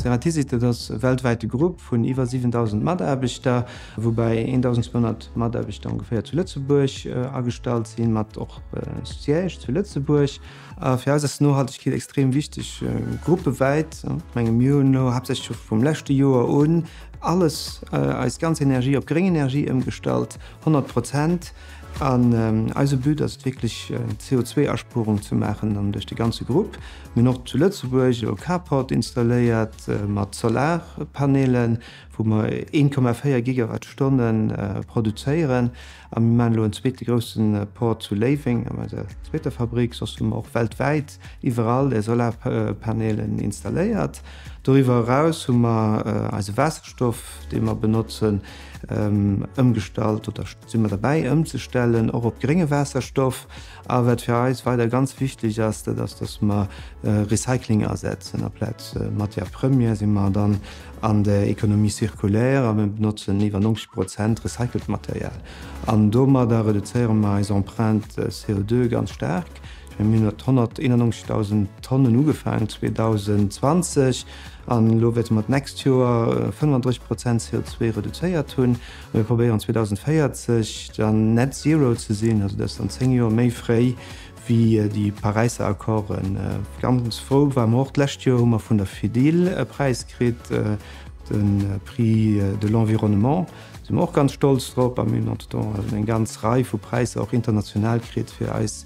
Ceratizidit ass e weltwäite Grupp vun iwwer 7.000 Mataarbechter, woubäi 1.200 Mataarbechter ongeféier zu Lëtzebuerg agestallt sinn, mat och Siège zu Lëtzebuerg. Fir eis ass Nohaltegkeet extrem wichteg, gruppewäit. Ech menge mir hunn elo haaptsächlech scho vum leschte Joer un alles, eis ganz Energie op gréng Energie ëmgestallt, 100 Prozent. An eise But ass et wierklech d'CO2-Aspuerung ze maachen an duerch de ganze Grupp. Mir hunn och zu Lëtzebuerg e Carport installéiert mat Solarpanelen, wou mer 1,4 Gigawattstonne produzéieren. A mir maachen elo en zweete grousse Port zu Léiweng an eiser zweeter Fabrick. Soss hu mer och weltwäit iwwerall Solarpanelen installéiert. Doriwwer eraus hu mer eise Waasserstoff, dee mer benotzen, ëmgestallt oder. Sinn mer derbäi ëmzestellen och op grénge Waasserstoff a wat fir eis weider ganz wichteg ass, dat ass datt mer Recycling asetzen aplaz Matière Première si mer dann an der Économie circulaire a mer benotzen iwwer 90 Prozent recycelt Material an domadder reduzéiere mer eis Empreinte CO2 ganz staark. Mir hunn mat 191.000 Tonnen ugefaangen 2020 an elo wäerte mer d'nächst Joer 35 Prozent CO2 reduzéiert hunn. Mir probéieren 2040 dann net zero ze sinn, also dat ass dann zéng Joer méi fréi wéi déi Paräisser Accorden. Ganz frou ware mer och, d'lescht Joer hu mer vun der FEDIL e Präis kritt, de Prix de l'environnement, si mer och ganz stolz drop. A mir hunn entretemps eng ganz Rei vu Präisser och international kritt fir eis